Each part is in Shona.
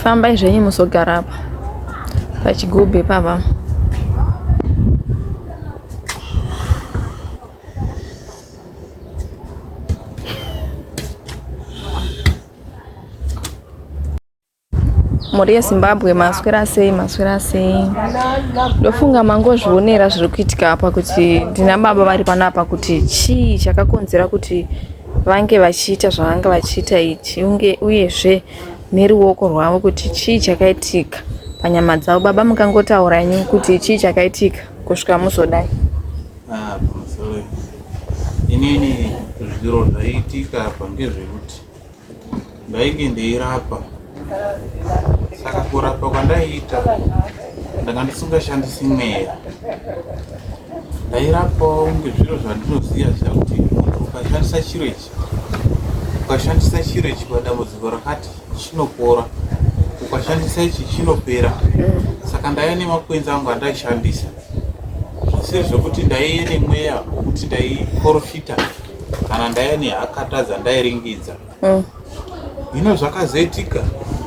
Fambai zvenyu muzogara apa pachigubhe pava. mhuri yezimbabwe maswera sei maswera sei ndofunga mangozvionera zviri kuitika apa kuti ndina baba vari pano apa kuti chii chakakonzera kuti vange vachiita zvavanga vachiita ichi unge uyezve neruoko rwavo kuti chii chakaitika panyama dzavo baba mukangotaura nyu kuti chii chakaitika kusvika muzodai ah, inini zviro zvaiitika apa ngezvekuti Ndainge ndeirapa saka kurapa kwandaiita ndanga ndisingashandisi mweya ndairapawo ngezviro zvandinoziva zviya kuti munhu ukashandisa chiro ichi ukashandisa chiro ichi padambudziko rakati chinopora ukashandisa ichi chinopera saka ndaiya nemakwenzi angu andaishandisa zvisiri zvekuti ndaiye nemweya wekuti ndaiporofita kana ndaiya nehakata dzandairingidza mm. hino zvakazoitika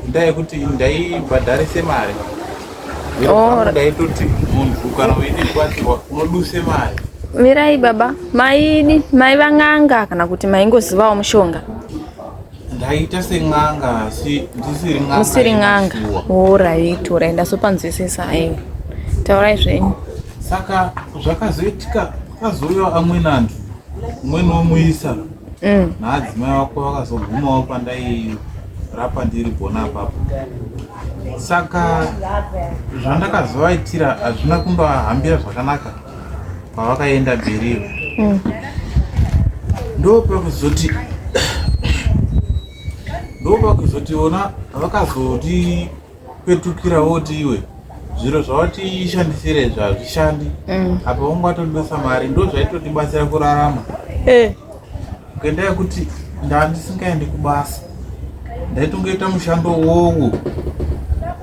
ndaa yekuti ndaibhadharise mari oh. ndaitoti munhu kana uine kubatsirwa unoduse mari mirai baba maidi mai van'anga kana kuti maingozivawo mushonga ndaita sen'anga asi ndisiri n'anga musiri n'anga orit orit ndasopanzwisisa aiwa taurai zvenyu saka zvakazoitika kwazouya amweni anhu umweniwo muisa mm. naadzimai wako vakazogumawo pandairapa ndiri gona apapo saka zvandakazovaitira hazvina kundovahambira zvakanaka pavakaenda bherivo mm. ndo pakuzoti ndo pakuzoti vona vakazoti petukira woti iwe zviro zvawatishandisira izvi hazvishandi mm. apa vonge watondosa mari ndo zvaitotibatsira kurarama eh. kuenda yekuti ndandisingaendi kubasa ndaitongoita mushando wowo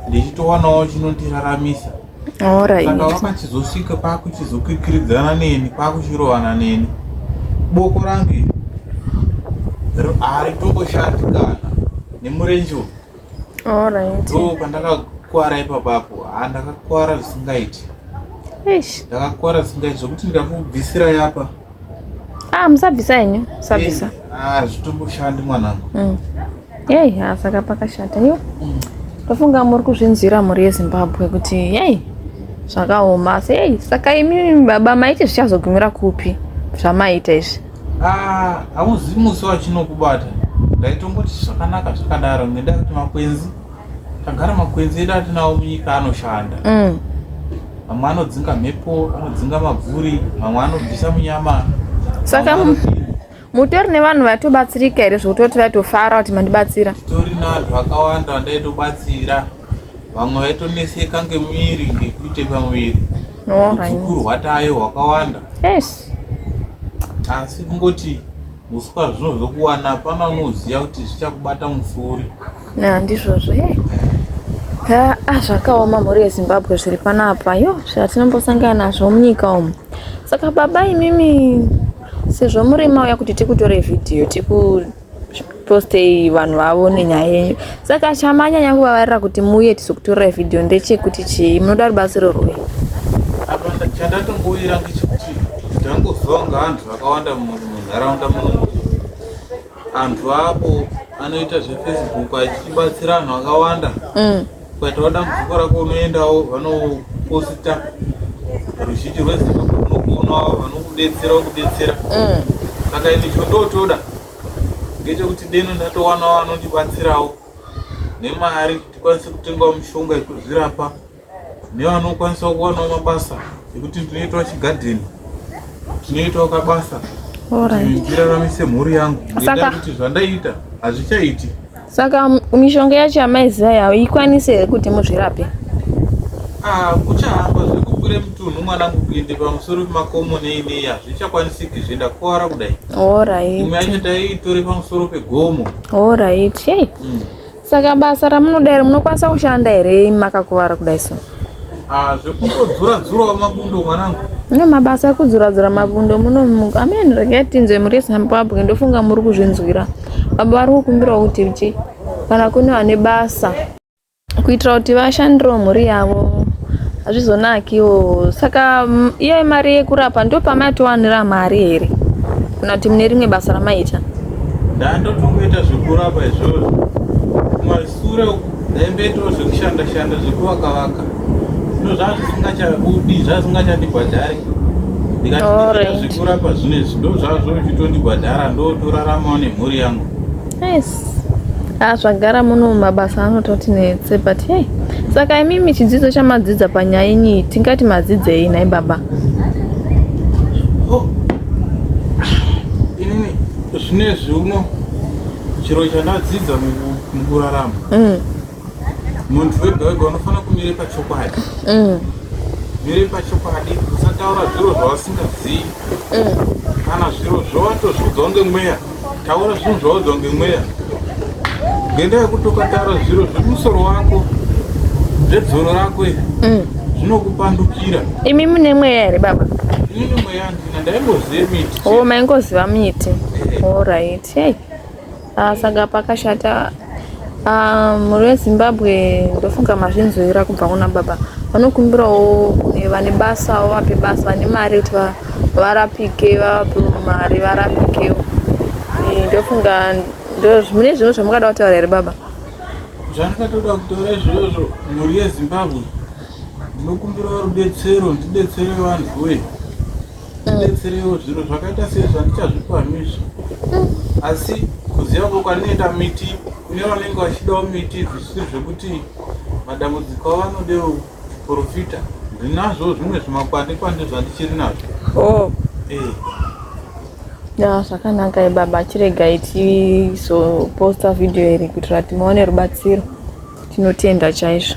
ndichitowanawo chinotiraramisa saka wakachizosvika pakuchizokikiridzana neni pakuchirovana neni boko rangu haritongoshandi kana nemurenje uyu Alright. Ndoo pandakakuwara ipapapo. Ah ndakakuwara zvisingaiti. Eish. Ndakakuwara zvisingaiti zvekuti ndakubvisira yapa. Ah musabvisa henyu, musabvisa. Ah zvitomboshandi mwanangu. Mm. Yei, ha saka pakashata yo. Mm. Tofunga muri kuzvinzwira mhuri yeZimbabwe kuti yei zvakaoma asi yei saka imi baba maiti zvichazogumira kupi zvamaita izvi. Ah, hauzivi musi wachinokubata ndaitongoti zvakanaka zvakadaro ngendaa yekuti makwenzi tagara makwenzi edu atinawo munyika anoshanda mm. mamwe anodzinga mhepo anodzinga mabvuri mamwe anobvisa munyama saka mutori nevanhu vatobatsirika here zvekutoti vatofara kuti mandibatsira tori navanhu vakawanda vandaitobatsira vamwe vaitoneseka ngemwiri ngekuite pamwiri udzukuru hwatayo hwakawanda asi kungoti uswa zvino zvokuwana hapana unoziva kuti zvichakubata musuri handizvozvo e a ah, zvakaoma mhuri yezimbabwe zviri panapa yo zvatinombosangana nazvo munyika umu saka baba imimi sezvo murima uya kuti tikutore vhidhiyo tiku postei vanhu vavo nenyaya yenyu saka chamanyanya kuvavarira kuti muuye tizokutorai vhidhiyo ndechekuti chii munoda rubatsiro rwei chandatomboira ngechekuti ndangozonga anhu vakawanda munharaunda munomu anhu apo anoita zvefacebook achibatsira anhu akawanda mm. Ukaitawo dambudziko rako unoendawo vanoposita ruzhinji rwezimbabwe runokuonawo vanokubetsera wokubetsera mm. saka ini chondotoda ngechekuti deno ndatowanawo anondibatsirawo nemari tikwanise kutengawo mishonga yekuzvirapa nevanokwanisa kuwanawo mabasa ekuti ndinoitawo chigadheni tinoitawo kabasa ndiraramise mhuri yangu ngendaa kuti zvandaiita hazvichaiti Saka mishonga yacho yamaiziva yavo ikwanise here kuti muzvirape? Ah, kuchahamba zvekukure mutunhu mwanangu kuende pamusoro pemakomo nei nei hazvichakwanisiki zve ndakuwara kudai. Alright. Imwe yacho taiitore pamusoro pegomo. Alright. Hey. Mm. Saka basa ramunoda here munokwanisa kushanda here makakuvara kudai so? Ah, zvekutodzura dzurawo mabundo mwanangu no mabasa ekudzura dzura mabundo muno amen regai tinzwe muri zimbabwe ndofunga muri kuzvinzwira baba vari kukumbirawo kuti uchi kana kune vane basa kuitira kuti vashandiro mhuri yavo hazvizonakiwo saka mm, iyo mari yekurapa ndo pamaitowanira mari here kana kuti mune rimwe basa ramaita ndandotongoita zvekurapa izvozvo Kure uku ndaimboitawo zvekushanda shanda zvekuvaka vaka zvino zvazvisingachabudi zvazvisingachandibhadhari ndikati zvekurapa zvine zvido zvazvo zvichitondibhadhara ndotoraramawo nemhuri yangu ah, zvagara muno mabasa anototi netse but hey saka imimi chidzidzo chamadzidza panyaya inyi tingati madzidzei nhai baba oh. inini zvinezvi uno chiro chandadzidza mukurarama mm. muntu wega wega unofanira kumire pachokwadi mm. mire pachokwadi usataura zviro zvausingazivi mm. kana zviro zvawatozviudzwa ngemweya taura zvinhu zvaudzwa ngemweya ngendaa yekuti ukataura zviro zvemusoro wako zvedzoro rako iri zvinokupandukira imi mune mweya here baba ini mweya ndina ndaingoziva miti o oh, maingoziva miti eh. orit Hey. Ah, saka pakashata ah, mhuri um, yezimbabwe ndofunga mazvinzwira kubva kuna baba vanokumbirawo kune vane basa wavape basa vane mari kuti varapike vavape mari varapikewo eh, ndofunga mune zvimwe zvamukada kutaura here baba zvandakatoda kutaura izvozvo mhuri yezimbabwe ndinokumbirawo rubetsero ndibetsere vanhu wee ndibetserewo zvinhu zvakaita sezvandichazvipanhu izvi asi kuziva ko kwandinoenda miti kune vanenge vachidawo miti zvisiri zvekuti madambudziko avanodewo profita ndinazvo zvimwe zvimakwande kwande zvandichiri nazvo oh. eh. ya zvakanaka ibaba chiregai tizoposta vhidhiyo iri kuitira timaone rubatsiro tinotenda chaizvo